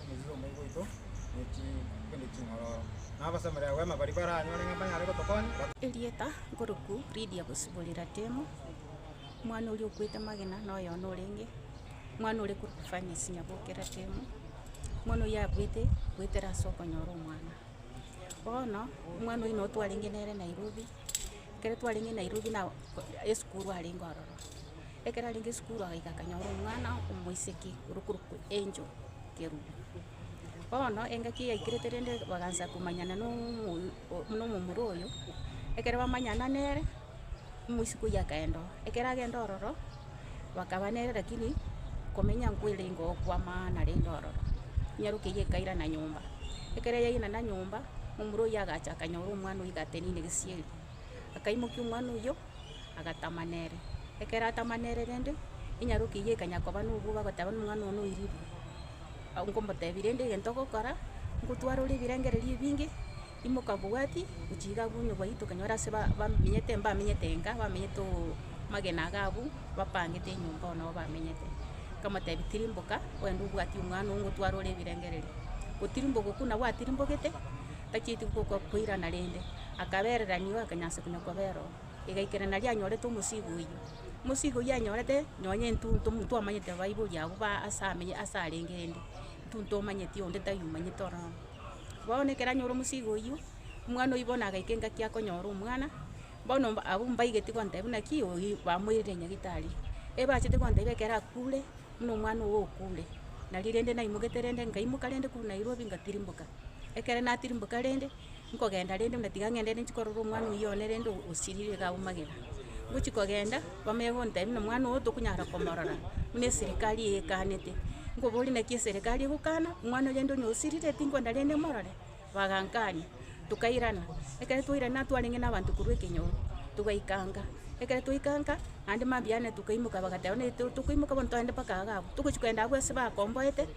Omochie bw'Omoika oito nechi kende ching'ororo, na abasamorera rwema baria baranyore ng'a mbanyare gotokonya, ba. Erieta nkoroku Lidia gosiborera Temo, omwana oria okwete magena na oyono orenge omwana ore korokwa Fanice nyabokera Temo, omwana oyio akwete goetera ase okonyora omwana. Bono omwana oyio noo twarenge nere Nairobi. Ekero twarenge Nairobi na esukuru arenge ororo, ekero arenge esukuru agaika akanyora omwana omoiseke orokorokwa Angel Kerubo. Bono engaki yaikerete rende bagansa komanyana na omoyo na omomura oyo, ekero bamanyana nere, omoiseke oyio akaenda oo. Ekero agenda ororo. bakaba nere, lakini komenya nkwere nigo kw'amaana rende ororo. Nyarokia eyio ekairana nyomba, ekero yairana nyomba, momura oyio agacha akanyora omwana oyio gatenine gesieri, akaimokia omwana oyio, agatama nere. Ekero atama nere rende, enyarokia eyio ekanya koba nobwoba goteba buna omwana one oirire, nkomotebia rende egento ogokora, ngotwara ore ebirengererio ebinge. Imoka bwati, gochia iga abwo onye gwaiyete okanyora ase ba- bamenyete, mbamenyete enka, bamenyete oo magena iga abwo, bapangete enyomba oo nabo bamenyete. Nkamotebia tirimboka, ogende obwatie omwana oo ngotware ore ebirengererio. Gotirimboka okwo nabo atirimbogete, tachieti gokoa koirana rende, akabererani oo akanyansa konya kobera oo. Egaikerania naria anyorete omosigo oyio. Omosigo oyio anyorete, nonye intwe ntomo twamanyete baibori abwo ba ase amenye ase arenge rende, intwe ntomanyeti onde taiyo omanyete ororo. Bono ekero anyora omosigo oyio, omwana oyio bono agaika engaki akonyora omwana, bono mba abwo mbaigeti kontebia buna ki oyio bamoirire nyagitari. Ebachete kontebia ekero akure, buna omwana ogo okure. Nari rende naimogete rende nkaimoka rende korwa Nairobi nkatirimboka. Ekero natirimboka rende, nkogenda rende buna tiga ng'ende rende nchi korora omwana oyio one rende osirire iga aumagera. ngochia kogenda, bamanye gontebia buna omwana ogo tokonyara komorora, buna eserikari eekanete. Nkoboria naki eserikari egokana, omwana oyo rende onye osirire tinkogenda rende morore? Bagankania, tokairana, ekero twairana twarenge na abanto korwa ekenyoro, togaikanga, ekero twaikanga, naende mambia ane tokaimoka bagateba buna to- tokoimoka bono togende mpaka iga abwo. Togochia kogenda abwo ase bakomboete.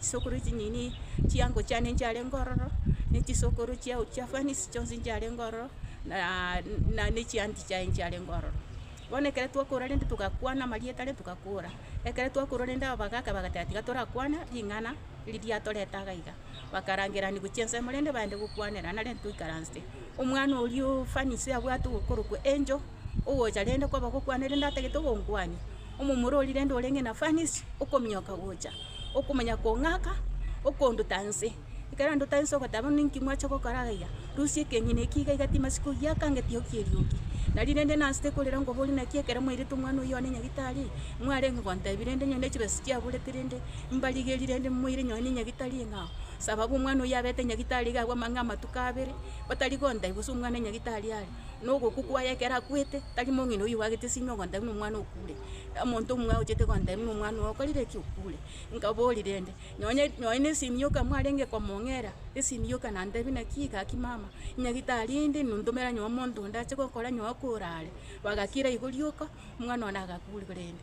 Chisokoro echi nini chiango chiane nchiarenge ororo, ne chisokoro chiao chia Fanisi chionsi nchiarenge ororo, na- na ne chianti chiaye nchiarenge ororo. Bono ekero twakora rende togakwana amarieta rende togakora, ekero twakora rende abagaaka bagateba tiga torakwane ring'ana eri riatorete iga iga, bakarangerania gochia ensemo rende baende gokwanera nare ntoikaranse. Omwana oria o Fanisi abwate ogokorokwa angel. ogocha rende kwaba gokwana rende atagete ogonkwania, omomura oria rende orenge na furnace, okominyoka gocha, okomanya kong'aka, okonduta nse, ekero anduta nse ogoteba buna inki mwacha gokora aiga, rusia ekenyene ekio iga iga timasi kogiaka nge tiokia eriogi. Nari rende nansete korera nkobori naki ekero mwairete omwana oyio one nyagitari, mwarenge gontebi rende onye ne chibesa chiaburete rende mbarigeri rende moire nonye ne nyagitari ng'a sababu omwana oyio abete nyagitari iga abwo amang'ana amatuko abere, batari gontebi gose omwana nyagitari are. na ogokwa kwaye ekero akwete, tari mong'ina oyio obwagete esimi ogontebia na omwana okure, omonto omwe agochete gontebia na omwana oye okorire ki? Okure. Nkabori rende, nonye nonye na esimi yoka mwarenge komong'era, esimi yoka nantebie naki gaki mama, nyagitari endi nontomera nyowe omonto onde ache gokora nyowe korare, bagakira igo rioka, omwana one agakure rende.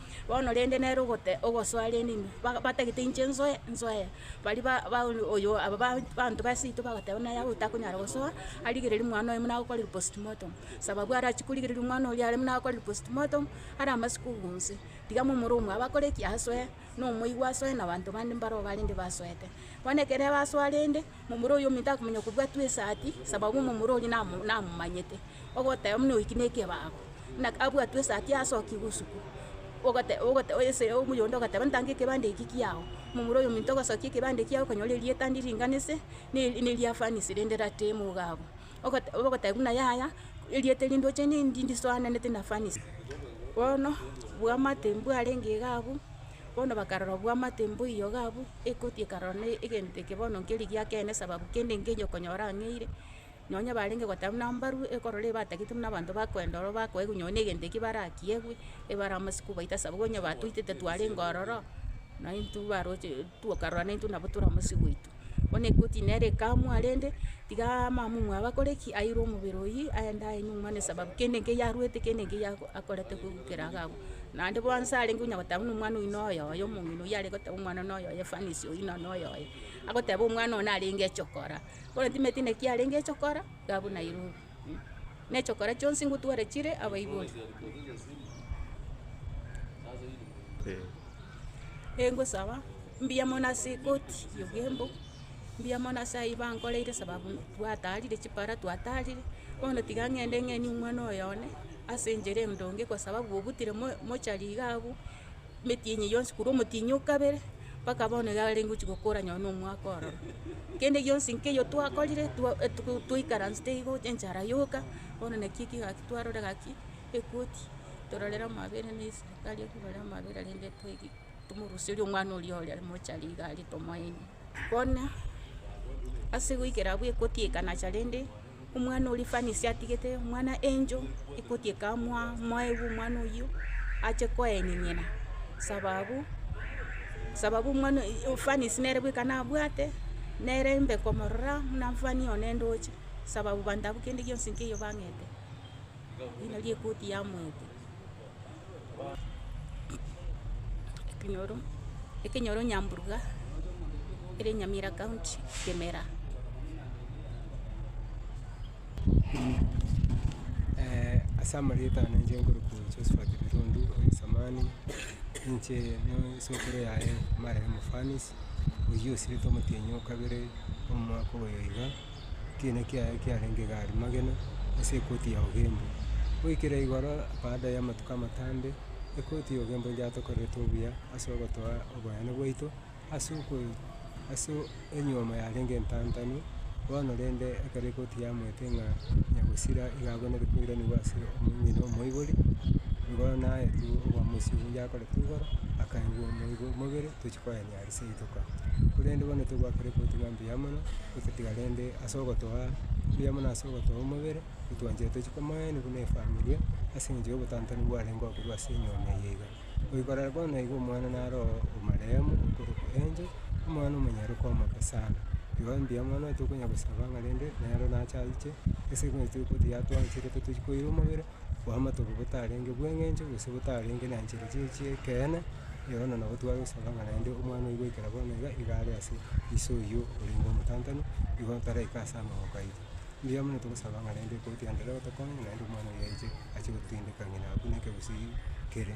Bono rende nere ogote ogosoa rende ime, ba- batagete inche nsoe nsoe, baria ba- ba oyo aba ba abanto ba seito bagoteba naye abwo takonyara gosoa, arigereria omwana oye buna agokorire postmortem, sababu arachi korigereria omwana oria are buna agokorire postmortem, are amasuko obonsi, tiga momura omwabo akore ki? Asoe, nomoigwa asoe na abanto bande mbaro barenge basoete. Bono ekero basoa rende. Momura oyomo takomanya kobwatwa esaati, sababu momura oria namo namomanyete, ogoteba buna oiki nekebago, buna abwatwe esaati asoki bosuku, ogote ogote ese omoyonde ogateba ntange ekebande eki kiago, momura oyominto ogosokia ekebande ekiago okonyora erieta ndi ringanise, ne neria fanisi rende rate mogabo. Ogote ogoteba buna yaya, erieta eri ndoche ne ndi ndisoananete na fanisi. Bono bwamate mbwarenge iga abwo. Bono bakarora obwo amate mboiyo iga abwo, ekoti ekarora na egento eke bono nkeri giakeene sababu kende nkenye okonyora ang'eire, nonya barenge goteba buna mbarwe, ekorora ebatagete buna abanto bakoenda ororo bakoegwa nonye na egento ekio barakiegwe, ebare amasuku baita sababu onye batoitete twarenge ororo, naintwe baroche tokarora naintwe nabo tore amasuku aito. bono ekoti nere ekamwa rende, tigaa mamumua abakore ki, airwe omobere oyio, aende aye nyomwa buna esababu kende ekero yarwete kende ekero ya akorete kogokera iga abwo. Naende bono nse arenge onya goteba buna omwana oyio noyo oye omong'ina oyio are goteba omwana noyo oye efanisi oyio nonye noyo oye, agoteba omwana oyo narenge eche okora, bono timanyeti naki arenge eche okora, iga abwo nairobwo. nechokora chionsi ngotware chire abaibori. Ee, ngosaba, mbuya mono ase ekoti y'oboembo, mbuya mono ase ayio bankoreire sababu twataarire chipara twataarire, bono tiga ng'ende ng'enie omwana oyo one ase enchera endonge kwa sababu obutire mo- mochari iga abwo. emetienyi yonsi korwa omotienyi o kabere mpaka bono iga are gochia gokora nonye na omwaka ororo. Kende gionsi nkeiyo twakorire twa- e- to- twaikaransete igo enchara yoka, bono naki eki gaki twarora gaki ekoti, tororere amaabera na eserikari ekorore amaabera rende toegi tomoruserie omwana oria ore are mochari iga are tomoe ime. Bono, ase goikera abwo ekoti ekanacha rende. Omwana oria efanisi atigete, omwana angel ekoti ekamwa moegwa omwana oyio, ache koeng'eng'ena sababu, sababu omwana oyio efanisi nere bweka nabwate, nere mbe komorora buna mfanie one ndoche, sababu banto abwo kende gionsi nkeiyo bang'ete, eri nario ekoti yamoetia. ekenyoro, ekenyoro nyamburuga, ere nyamira county, kemera. ase amarieta ane inche nkorokwa Josephat Birundu oyosamani, inche n'esukuru yaye Mariam Fanice, oyio osiretwe omotienyi o kabere omwaka oyo iga. ekiina kiaye kiarenge gari magena ase ekoti ya ogembe. Goikera igoro baada ya amatuko amatambe, ekoti ya ogembe nigo yatokorerete obuya ase ogotoa oboyeno bwaito ase okoe ase enyiomo yarenge entantanu, bono rende ekero ekoti yamoete ng'a nyagosira iga abwenerete koiranigwa ase omong'ina omoibori, nigo naetwe oboamosi obo yakorete igoro akaengwa omoibi omobere tochi koenye. ase rituko. Korende bono togoakera eboti bwa mbuya mono, gototiga rende ase ogotoa mbuya mono ase ogotoa omobere, otwanchete tochie komoenwa buna efamilia, ase eng'encho ya obotantani bwarenge oo korwa ase enyomba eye iga. Goikorera bono iga omwana naro omarehemu okorokwa Angel, omwana omonyaroka omoke sana. Igo mbuya mono tokonya gosaba ng'a rende nero nache aiche ase egento ekero yatwancherete tochie koira omobere. bw'amatuko botarenge bw'eng'encho gose botarenge na nchera chire chi'ekeene, yono nabo twagosaba ng'a naende omwana oyio goikera bono iga, iga are ase iso oyio orenge omotantanu, igo taraika ase amaboko aito. Mbuya mono togosaba ng'a naende ekoti yane nere otokonye ng'a naende omwana oyio aiche ache gotindeka ng'ina abuneke gose kere.